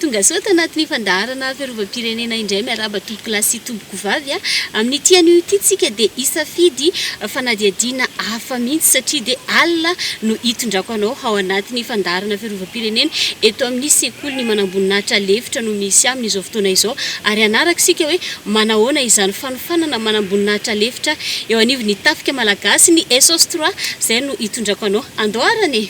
Tongasoa tanatin'ny fandaharana fiarovam-pirenena indray miarahaba tompokolahy sy tompokovavy a! Amin'ity anio ity tsika dia hisafidy fanadihadiana hafa mihitsy satria dia alina no hitondrako anao ao anatin'ny fandaharana fiarovam-pirenena. firenena, eto amin'ny sekoly ny manamboninahitra lefitra no misy aminy izao fotoana izao ary hanaraka isika hoe manahoana izany fanofanana manamboninahitra lefitra eo anivon'ny tafika malagasy ny Esos trois izay no hitondrako anao andoharana e!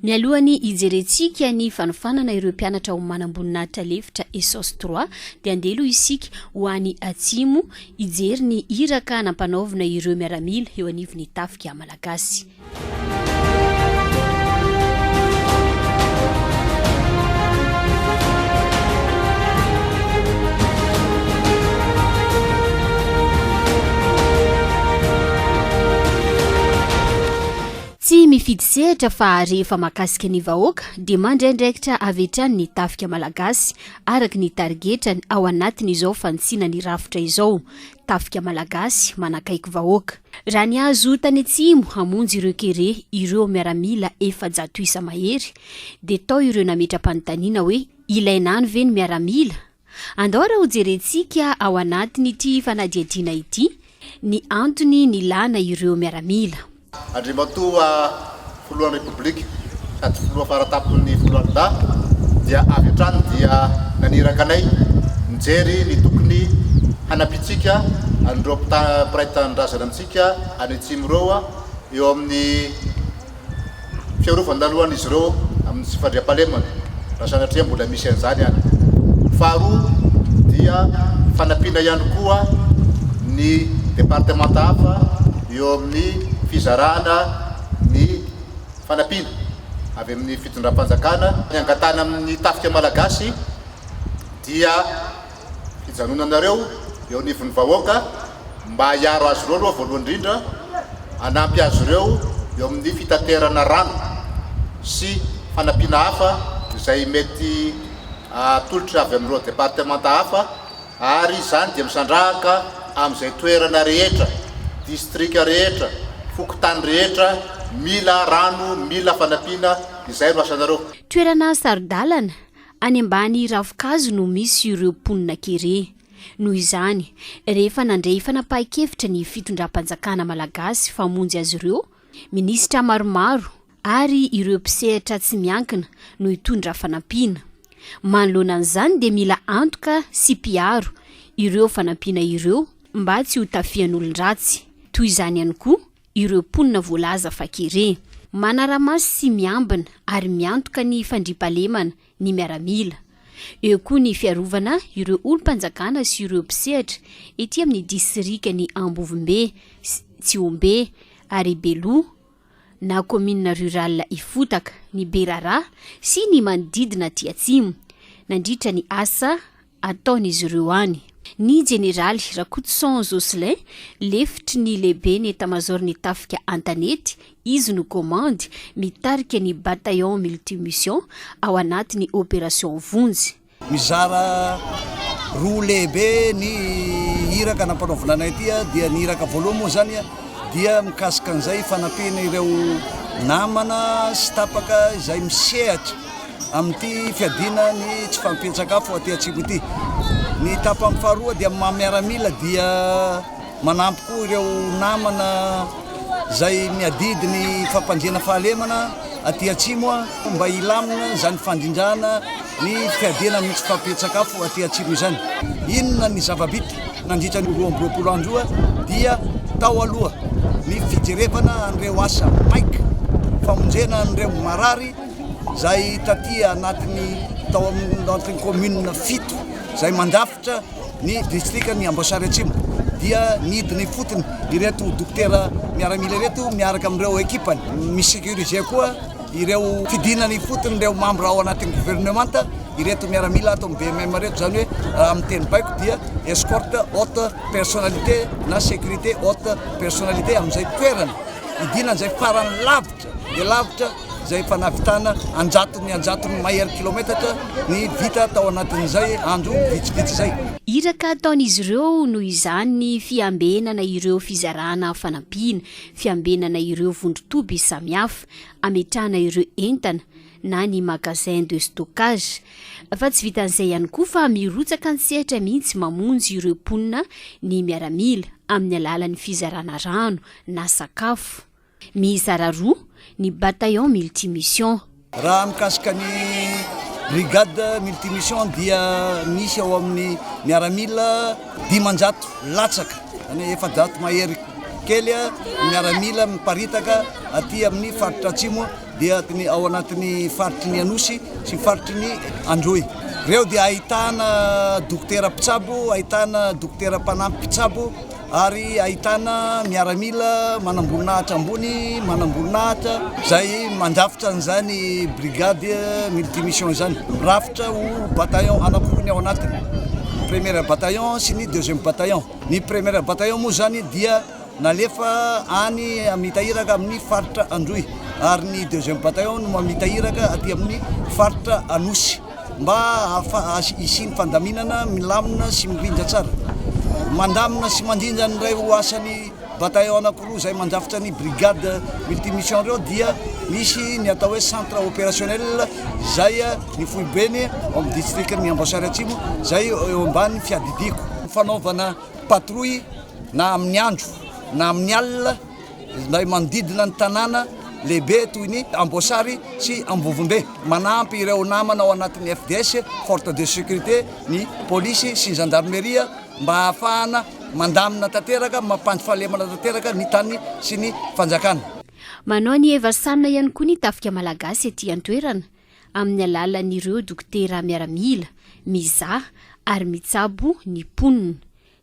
Mialoha ny hijerentsika ny fanofanana ireo mpianatra ao manamboninahitra lefitra Esos trois dia andeha aloha isika ho any atsimo hijery ny iraka nampanaovina ireo miaramila eo anivon'ny tafika malagasy. Tsy mifidy sehatra fa rehefa mahakasika ny vahoaka dia mandray andraikitra avy hatrany ny tafika malagasy araka ny tarigetrany ao anatin'izao fanitsina ny rafitra izao. Tafika Malagasy manakaiky vahoaka. Raha ny azo tany atsimo hamonjy ireo kere ireo miaramila efajato isa mahery dia tao ireo nametra-panontaniana hoe ilaina any ve ny miaramila? Andao ary hojerentsika ao anatin'ity fanadihadiana ity ny antony nilana ireo miaramila. Andriamatoa Filohan'ny Repoblika sady Filoha faratapon'ny Foloalindahy dia avy hatrany dia naniraka anay nijery ny tokony hanampiantsika an'ireo mpiray tanindrazana amintsika any Atsimo ireo eo amin'ny fiarovan-dalohan'izy ireo amin'ny tsy fandriampahalemana. raha sanatria mbola misy an'izany any. Faharoa dia fanampiana ihany koa ny departemanta hafa eo amin'ny fizarana ny fanampiana avy amin'ny fitondram-panjakana. Ny angatahana amin'ny tafika malagasy dia fijanonanareo eo anivon'ny vahoaka. mba hiaro azy ireo aloha voalohany indrindra, hanampy azy ireo eo amin'ny fitaterana rano sy fanampiana hafa izay mety atolotra avy amin'ireo departemanta hafa ary izany dia misandrahaka amin'izay toerana rehetra, distrika rehetra, fokontany rehetra mila rano, mila fanampiana, izay no asanareo. Toerana saro-dalana, any ambany ravinkazo no misy ireo mponina kere. Noho izany, rehefa nandray fanapahan-kevitra ny fitondram-panjakana malagasy famonjy azy ireo, minisitra maromaro ary ireo mpisehatra tsy miankina no hitondra fanampiana. Manoloana an'izany dia mila antoka sy mpiaro ireo fanampiana ireo mba tsy hotafihan'olon-dratsy. Toy izany ihany koa ireo mponina voalaza fa kere, manara-maso sy miambina ary miantoka ny fandriampahalemana ny miaramila. Eo koa ny fiarovana ireo olom-panjakana sy ireo mpisehatra ety amin'ny disirikan'i Ambovombe sy Tsiombe ary Beloha na kaominina rural Ifotaka, ny Berarà sy ny manodidina aty atsimo, nandritra ny asa ataon'izy ireo any. Ny jeneraly Rakotoson Jocelyn, lefitry ny lehiben'ny etamazaoron'ny tafika an-tanety, izy no komandy mitarika ny Bataillon Multimission ao anatin'ny Opération Vonjy. Mizara roa lehibe ny iraka nampanaovina anay ity, dia ny iraka voalohany moa izany dia mikasika an'izay fanampiana ireo namana sy tapaka izay misehatra amin'ity fiadiana ny tsy fampian-tsakafo aty Atsimo ity. Ny tapany faharoa dia amin'ny maha miaramila dia manampy koa ireo namana izay miadidy ny fampanjena fahalemana aty Atsimo mba hilamina izany fandrindrana ny fiadiana amin'ny tsy fampian-tsakafo aty Atsimo izany. Inona ny zava-bita nandritra ny roa amby roapolo andro io dia tao aloha ny fijerevana an'ireo asa maika famonjena an'ireo marary, izay taty anatin'ny tao amin'ny commune fito izay mandrafitra ny distrikan'ny Amboasary Atsimo dia nidina ifotony ireto dokotera miaramila ireto miaraka amin'ireo ekipany mi-sécuriser koa ireo fidinana ifotony ireo mambra ao anatin'ny gouvernementa ireto miaramila ato amin'ny BMM ireto izany hoe raha amin'ny teny baiko dia escorte haute personnalité na sécurité haute personnalité amin'izay toerana hidinana izay farany lavitra dia lavitra izay efa nahavitana anjatony anjatony mahery kilaometatra ny vita tao anatin'izay andro vitsivitsy izay. Iraka ataon'izy ireo noho izany ny fiambenana ireo fizarana fanampiana, fiambenana ireo vondron-toby samihafa, ametrahana ireo entana na ny magasin de stockage. Fa tsy vitan'izay ihany koa fa mirotsaka an-tsehatra mihitsy mamonjy ireo mponina ny miaramila amin'ny alalan'ny fizarana rano na sakafo. Mizara roa ny bataillon multimission. Raha mikasika ny brigade multimission dia misy ao amin'ny miaramila dimanjato latsaka, izany hoe efajato mahery kely ny miaramila miparitaka aty amin'ny faritra Atsimo dia ao anatin'ny faritry ny Anosy sy faritry ny Androy. Ireo dia ahitana dokotera mpitsabo, ahitana dokotera mpanampy mpitsabo. ary ahitana miaramila manamboninahitra ambony, manamboninahitra, izay mandrafitra an'izany brigade multimission izany, mirafitra ho bataillon anankiroa ny ao anatiny, ny première bataillon sy ny deuxième bataillon. Ny première bataillon moa izany dia nalefa any mitahiraka amin'ny faritra Androy, ary ny deuxième bataillon no mitahiraka aty amin'ny faritra Anosy. mba hahafaha hisian'ny fandaminana milamina sy mirindra tsara. Mandamina sy mandrindra ny iray ho asan'ny bataillon anankiroa izay mandrafitra ny brigade multimission ireo dia misy ny atao hoe centre opérationnel izay ny foibeny ao amin'ny distrikan'ny Amboasary Atsimo izay eo ambany fiadidiako. Fanaovana patrouille na amin'ny andro na amin'ny alina. izay manodidina ny tanàna lehibe toy ny Amboasary sy Ambovombe. Manampy ireo namana ao anatin'ny FDS, Forte de Sécurité, ny Polisy sy ny Zandarmeria mba hahafahana mandamina tanteraka, mampandy fahalemana tanteraka ny tany sy ny fanjakana. Manao ny hevasanina ihany koa ny Tafika Malagasy ety an-toerana amin'ny alalan'ireo dokotera miaramila mizaha ary mitsabo ny mponina.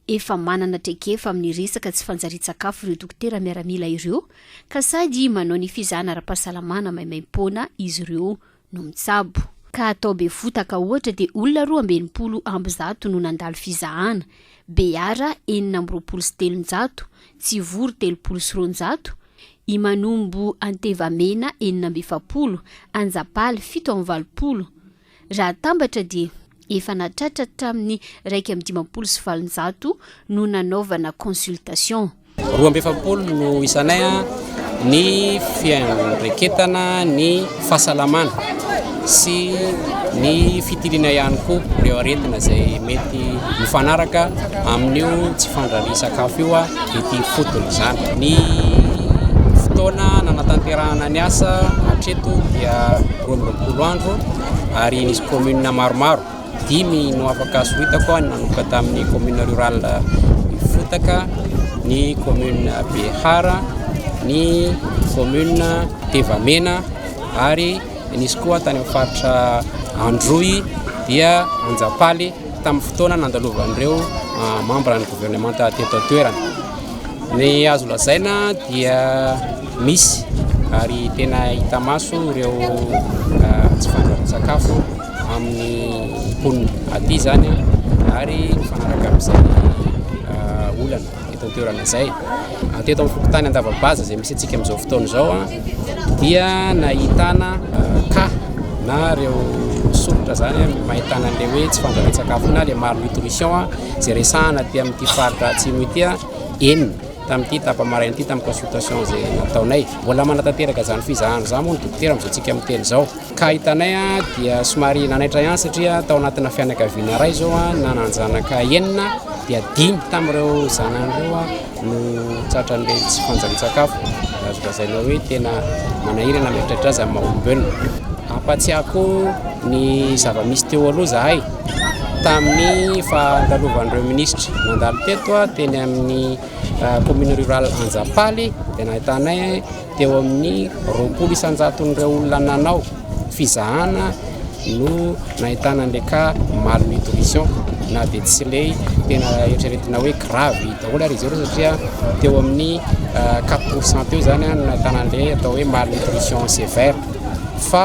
Efa manana traikefa amin'ny resaka tsy fanjarian-tsakafo ireo dokotera miaramila ireo ka sady manao ny fizahana ara-pahasalamana maimaim-poana izy ireo no mitsabo. Ka tao Befotaka ohatra dia olona roa amby enimpolo amby zato no nandalo fizahana, Beara enina amby roapolo sy telonjato, Tsivory telopolo sy roanjato, i Manombo Antevamena enina amby efapolo, Anjapaly fito amby valopolo, Raha atambatra dia efa nahatratra hatramin'ny iraika amby dimampolo sy valonjato no nanaovana consultation. Roa amby efapolo no isanay an, ny fiandraiketana ny fahasalamana sy ny fitiliana ihany koa ireo aretina izay mety mifanaraka amin'io tsy fandrarian-sakafo io an, ity ifotony izany. Ny fotoana nanatanterahana ny asa hatreto dia. roa amby roapolo andro ary nisy commune maromaro dimy no afaka soritako ny nanomboka tamin'ny commune rurale Ifotaka ny commune Behara ny commune Tevamena ary nisy koa tany amin'ny faritra Androy dia Anjapaly tamin'ny fotoana nandalovan'ireo ah, membre ny gouvernementa teto an-toerana Ny azo lazaina dia misy ary tena hita maso ireo ah, tsy fandrahoan-tsakafo amin'ny mponina aty izany ah, ary mifanaraka amin'izay ah, olana eto an-toerana izay. Ah, Teto amin'ny fokontany Andavabaza izay misy antsika amin'izao fotoana izao ah, dia nahitana ah, cas na ireo soritra izany ah, mahitana an'ilay hoe tsy fandrahoan-tsakafo na ilay malnutrition ah, Tsy resahana aty amin'ity faritra atsimo ity enina tamin'ity tapa-maraina ity tamin'ny consultation izay nataonay. Mbola manatanteraka izany fizahana izany moa ny dokotera amin'izao tsika miteny izao. Ka hitanay dia somary nanaitra ihany satria tao anatina fianakaviana iray izao nananjanaka enina dia dimy tamin'ireo zanany ireo no tratran'ireny tsy fanjan-tsakafo azo lazaina hoe tena manahirana mieritreritra azy amin'ny maha-olombelona. Ampatsiahako ny zava-misy teo aloha zahay tamin'ny fandalovan'ireo minisitra nandalo teto teny amin'ny commune rurale Anjapaly dia nahitanay Teo amin'ny roapolo isan-jaton'ireo olona nanao fizahana no nahitana an'ilay cas malnutrition na dia tsy ilay tena eritreretina hoe grave daholo ary izy ireo satria teo amin'ny quatre pourcent teo izany no nahitana an'ilay atao hoe malnutrition sévère fa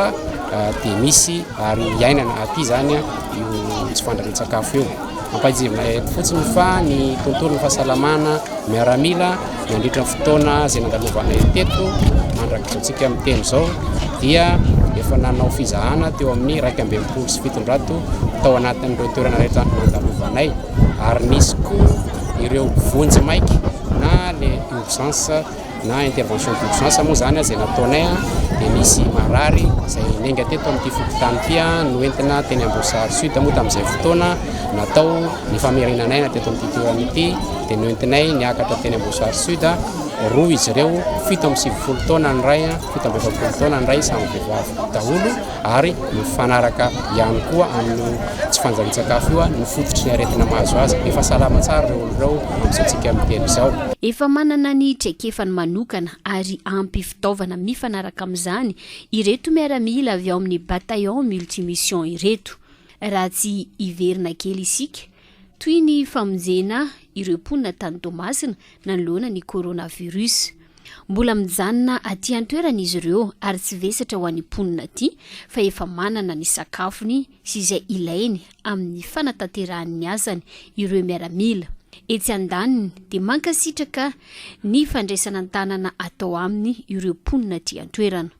dia misy ary iainana aty izany io tsy fandrahoan-tsakafo io. Ampahejivinay eto fotsiny fa ny tontolon'ny fahasalamana miaramila nandritra ny fotoana izay nandalovanay teto mandrakizaontsika miteny izao dia efa nanao fizahana teo amin'ny iraika amby enimpolo sy fitonjato tao anatin'ireo toerana rehetra nandalovanay ary nisy koa ireo vonjy maika na le urgence na intervention d'urgence moa izany izay nataonay dia nisy marary izay nenga teto amin'ity fokontany ity noentina teny Amboasary Sud moa tamin'izay fotoana natao ny famerinan'aina teto amin'ity toerana ity dia noentinay niakatra teny Amboasary Sud roa izy ireo fito amby sivifolo taona ny iray fito amby efapolo taona ny iray samy vehivavy daholo ary mifanaraka ihany koa amin'io tsy fanjarian-tsakafo io ny fototry ny aretina mahazo azy. Efa salama tsara ireo olona ireo amin'izao tsikamintelo izao. Efa manana ny traikefany manokana ary ampy fitaovana mifanaraka amin'izany ireto miaramila avy ao amin'ny Bataillon Multimission ireto. Raha tsy hiverina kely isika, Toy ny famonjena ireo mponina tany Toamasina nanoloana ny coronavirus. Mbola mijanona aty an-toerana izy ireo ary tsy vesatra ho an'ny mponina aty fa efa manana ny sakafony sy izay ilainy amin'ny fanatanterahany ny asany ireo miaramila etsy andaniny dia mankasitraka ny fandraisana an-tanana atao aminy ireo mponina aty an-toerana.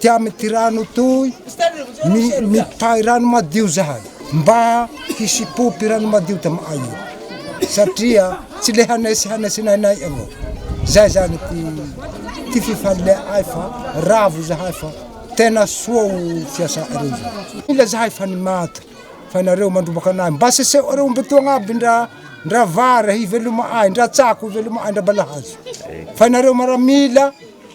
Tia amin'ity rano itoy, mitahy rano madio zahay mba hisy pompy rano madio tamay io satria tsy le hanay sy hanay sy nainay avao. Zay zany ty ty fifaleaay fa ravo zahay fa tena soa o fiasa areo zao. Mila zahay fa ny maty fa nareo mandrombaka anay mba aseseo areo omby toa agnaby ndra ndra vary hivelomaay ndra tsako hivelomaay ndra balahazo fa nareo maramila.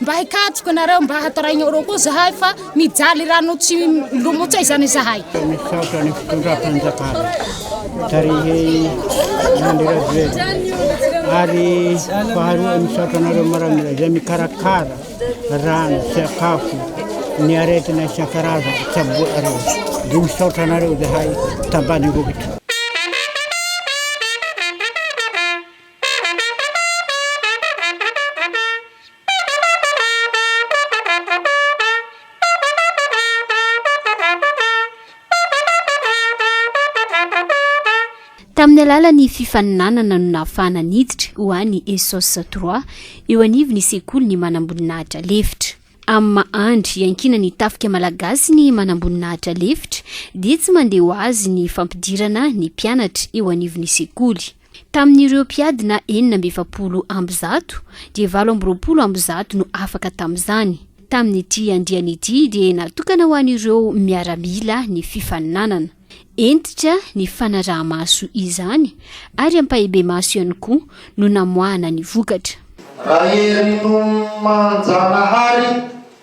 Mba hikatroka nareo mba hataraigny arô koa zahay fa mijaly rano tsy milomotsay zany zahay. Misaotra ny fitondram-panjakana tarihin'ny Andry Rajoelina ary faharoa misaotra anareo maramila izay mikarakara rano, sakafo, ny aretina isan-karazany tsaboinareo. Dia misaotra anareo zahay tambany rongitra. Tamin'ny alalan'ny fifaninanana no nahafahana niditra ho any ESOS trois eo anivon'ny sekolin'ny manamboninahitra lefitra. Amin'ny maha andry iankinan'ny tafika malagasy ny manamboninahitra lefitra dia tsy mandeha ho azy ny fampidirana ny mpianatra eo anivon'ny sekoly. Tamin'ireo mpiadina enina amby efapolo amby zato dia valo amby roapolo amby zato no afaka tamin'izany. Tamin'ity andiany ity dia natokana ho an'ireo miaramila ny fifaninanana. Hentitra ny fanaraha-maso izany ary ampahibemaso ihany koa no namoahana ny vokatra. Rahery Nonimanjanahary,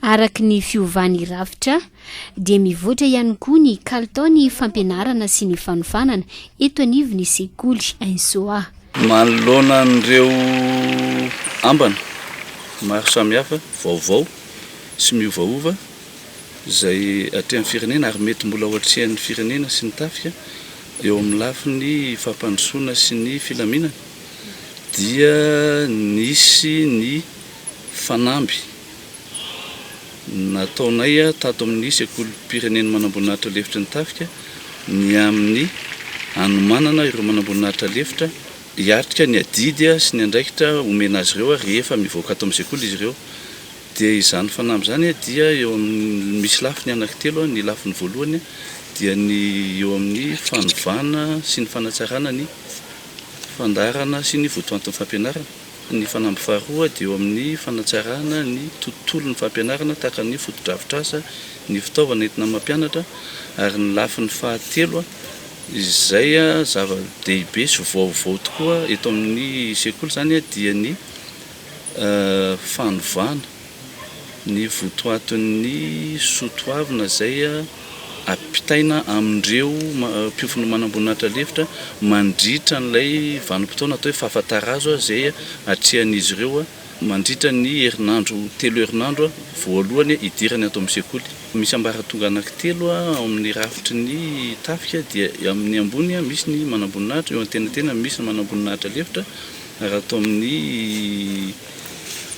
Araka ny fiovan'ny rafitra dia mivoatra ihany koa ny kalitaon'ny fampianarana sy ny fanofanana eto anivon'ny sekoly Insoa. Manoloana an'ireo ambana maro samihafa vaovao sy miovaova izay atrehan'ny firenena ary mety mbola ho atrehan'ny firenena sy ny tafika eo amin'ny lafiny fampandrosoana sy ny filaminana dia nisy ny fanamby Nataonay tato amin'ny Sekolim-pirenen'ny Manamboninahitra Lefitry ny Tafika ny amin'ny hanomanana ireo manamboninahitra lefitra hiatrika ny adidy sy ny andraikitra omena azy ireo rehefa mivoaka ato amin'ny sekoly izy ireo. Dia izany fanamby izany dia eo amin'ny, misy lafiny anankitelo, ny lafiny voalohany dia ny eo amin'ny fanovana sy ny fanatsarana ny fandaharana sy ny votoantin'ny fampianarana. Ny fanamby faharoa dia eo amin'ny fanatsarana ny tontolon'ny fampianarana tahaka ny fotodrafitrasa, ny fitaovana entina mampianatra ary ny lafiny fahatelo izay zava-dehibe sy vaovao tokoa eto amin'ny sekoly izany dia ny fanovana. ny votoatin'ny soa toavina izay ampitaina amin'ireo mpiofan'ny manamboninahitra lefitra mandritra an'ilay vanim-potoana atao hoe fahafatarazo izay atrehan'izy ireo mandritra ny herinandro telo herinandro voalohany hidirany ato amin'ny sekoly. Misy ambaratonga anankitelo ao amin'ny rafitry ny tafika dia eo amin'ny ambony misy ny manamboninahitra, eo antenantenany misy ny manamboninahitra lefitra ary ato amin'ny.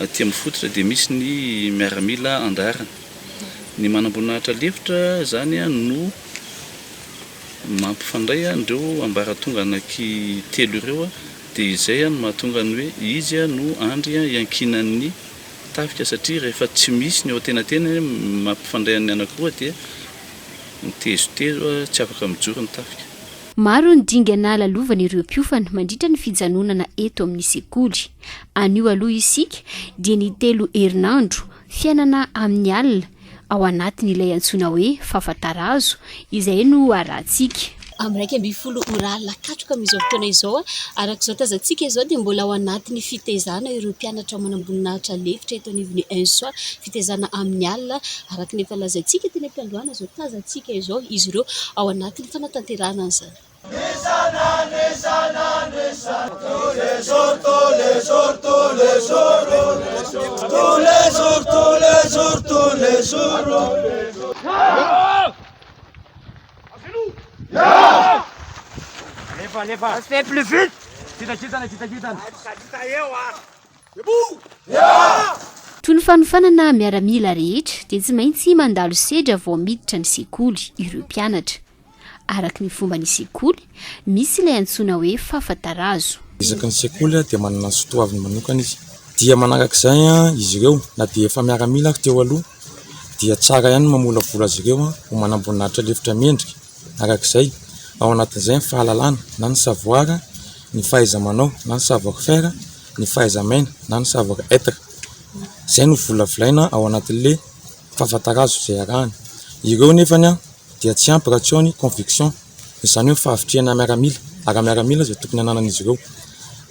Aty amin'ny fototra dia misy ny miaramila andaharana. Ny manamboninahitra lefitra izany no mampifandray an'ireo ambaratonga anaky telo ireo dia izay no mahatonga ny hoe izy no andry iankinan'ny tafika satria rehefa tsy misy ny eo antenatenany mampifandray an'ny anankiroa dia mitezotezo tsy afaka mijoro ny tafika. Maro ny dingana lalovan'ireo mpiofana mandritra ny fijanonana eto amin'ny sekoly. Anio aloha isika dia ny telo herinandro fiainana amin'ny alina ao anatin'ilay antsoina hoe fafatarazo izay no harahantsika. Amin'ny iraika ambin'ny folo ora alina katroka amin'izao fotoana izao, araka izao tazantsika izao dia mbola ao anatin'ny fitaizana ireo mpianatra manamboninahitra lefitra eto anivon'ny ENSSO, fitaizana amin'ny alina araka ny efa lazaintsika teny am-piandohana izao tazantsika izao izy ireo ao anatin'ny fanatanterahana an'izany. Toy ny fanofanana miaramila rehetra dia tsy maintsy mandalo sedra vao miditra ny sekoly ireo mpianatra. Araka ny fomba ny sekoly, misy ilay antsoina hoe fafa-tarazo. Isaky ny sekoly dia manana ny soatoaviny manokana izy. Dia manaraka izay izy ireo, na dia efa miaramila ary teo aloha, dia tsara ihany ny mamolavola azy ireo ho manamboninahitra lefitra mendrika araka izay, ao anatin'izay ny fahalalana na ny savoir, ny fahaiza-manao na ny savoir faire, ny fahaiza-miaina na ny savoir être. Izay no volavolaina ao anatin'ilay fafa-tarazo izay arahana. Ireo nefany. dia tsy ampy raha tsy ao ny conviction, izany hoe fahavitrihana miaramila, ara-miaramila izay tokony hananan'izy ireo.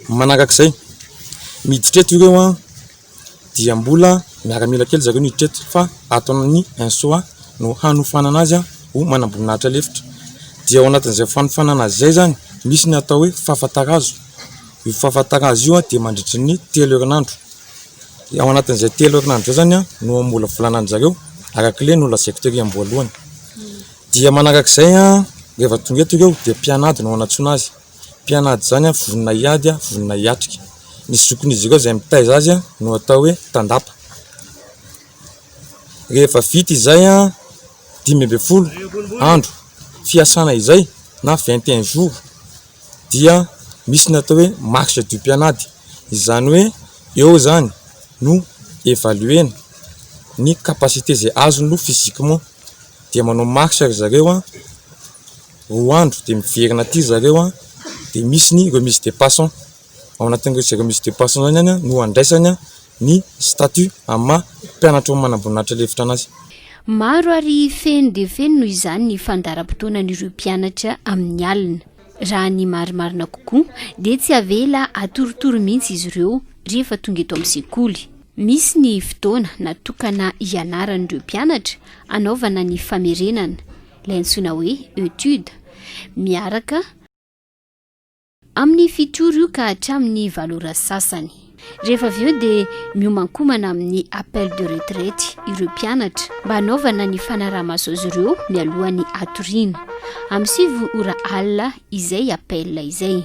Manaraka izay, ny hiditra eto ireo dia mbola miaramila kely zareo no hiditra eto fa ato amin'ny INSOA no hanofanana azy ho manamboninahitra lefitra. Dia ao anatin'izay fanofanana azy izay izany, misy ny atao hoe fafatarazo. Io fafatarazo io dia mandritry ny telo herinandro. dia ao anatin'izay telo herinandro izay izany no hamolavolana an-dry zareo araka ilay nolazaiko tery am-boalohany. Dia manaraka izay rehefa tonga eto ireo dia mpianady no anatsoina azy. Mpianady izany vonona hiady, vonona hiatrika. Ny zokin'izy ireo izay mitaiza azy no atao hoe tandapa. Rehefa vita izay dimy ambin'ny folo andro fiasana izay na vingt et un jours. dia misy ny atao hoe marche du mpianady. Izany hoe eo izany no evaluena ny capacité izay azony aloha physiquement. Dia manao marche ry zareo roa andro dia miverina aty ry zareo dia misy ny remise de passant. Ao anatin'ireny remise de passant ireny no andraisany. ny statut amin'ny maha mpianatro ny manamboninahitra lefitra anazy. Maro ary feno dia feno noho izany ny fandaharam-potoanan'ireo mpianatra amin'ny alina. Raha ny marimarina kokoa dia tsy avela atorotoro mihitsy izy ireo rehefa tonga eto amin'ny sekoly. Misy ny fotoana natokana hianaran'ireo mpianatra hanaovana ny famerenana, ilay antsoina hoe etude, miaraka. Amin'ny fito ora io ka hatramin'ny valo ora sasany. Rehefa avy eo dia miomankomana amin'ny appel de retraite ireo mpianatra mba hanaovana ny fanaraha-maso azy ireo mialohan'ny hatoriana. Amin'ny sivy ora alina izay appel izay.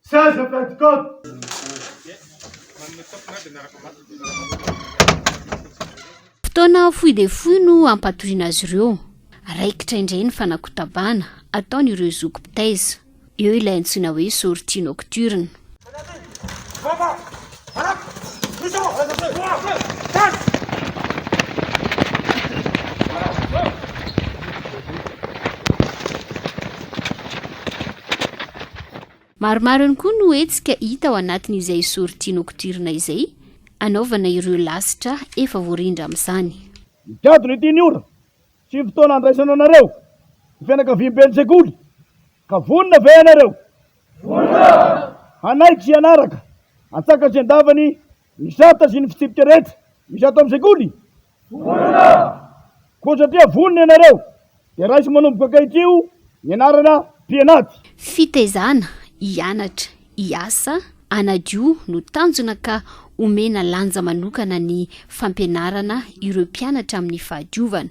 Saiza pentecote? Fotoana fohy dia fohy no hampatoriana azy ireo. Raikitra indray ny fanakotabana ataon'ireo zoky mpitaiza. Eo ilay antsoina hoe sortie nocturne. Maromaro ihany koa no hetsika hita ao anatin'izay sortie nocturne izay anaovana ireo lasitra efa voarindra amin'izany. Ny gadona ity ny ora sy ny fotoana handraisana anareo, ny fianakaviamben'ny sekoly. Ka vonona ve ianareo? Vonona! Hanaiky sy hanaraka antsakany sy andavany ny sata sy ny fitsipika rehetra misy ato amin'ny sekoly? Vonona! Koa satria vonona ianareo dia raiso manomboka ankahitrio ny anarana mpianaty. Fitaizana, hianatra, hiasa, hanadio no tanjona ka omena lanja manokana ny fampianarana ireo mpianatra amin'ny fahadiovana.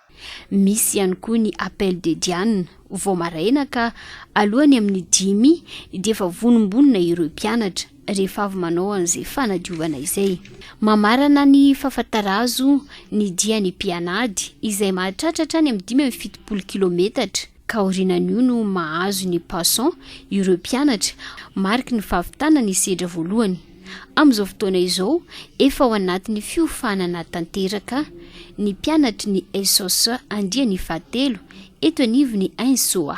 Misy ihany koa ny Appel de Diane vao maraina ka alohany amin'ny dimy dia efa vonombonona ireo mpianatra rehefa avy manao an'izay fanadiovana izay. Mamarana ny fafatarazo ny dian'ny mpianady izay mahatratra hatrany amin'ny dimy amby fitopolo kilometatra. ka aorianan'io no mahazo ny Passon ireo mpianatra, mariky ny fahavitana ny sedra voalohany. Amin'izao fotoana izao, efa ao anatin'ny fiofanana tanteraka ny mpianatry ny SOS andiany fahatelo eto anivon'ny Insoa.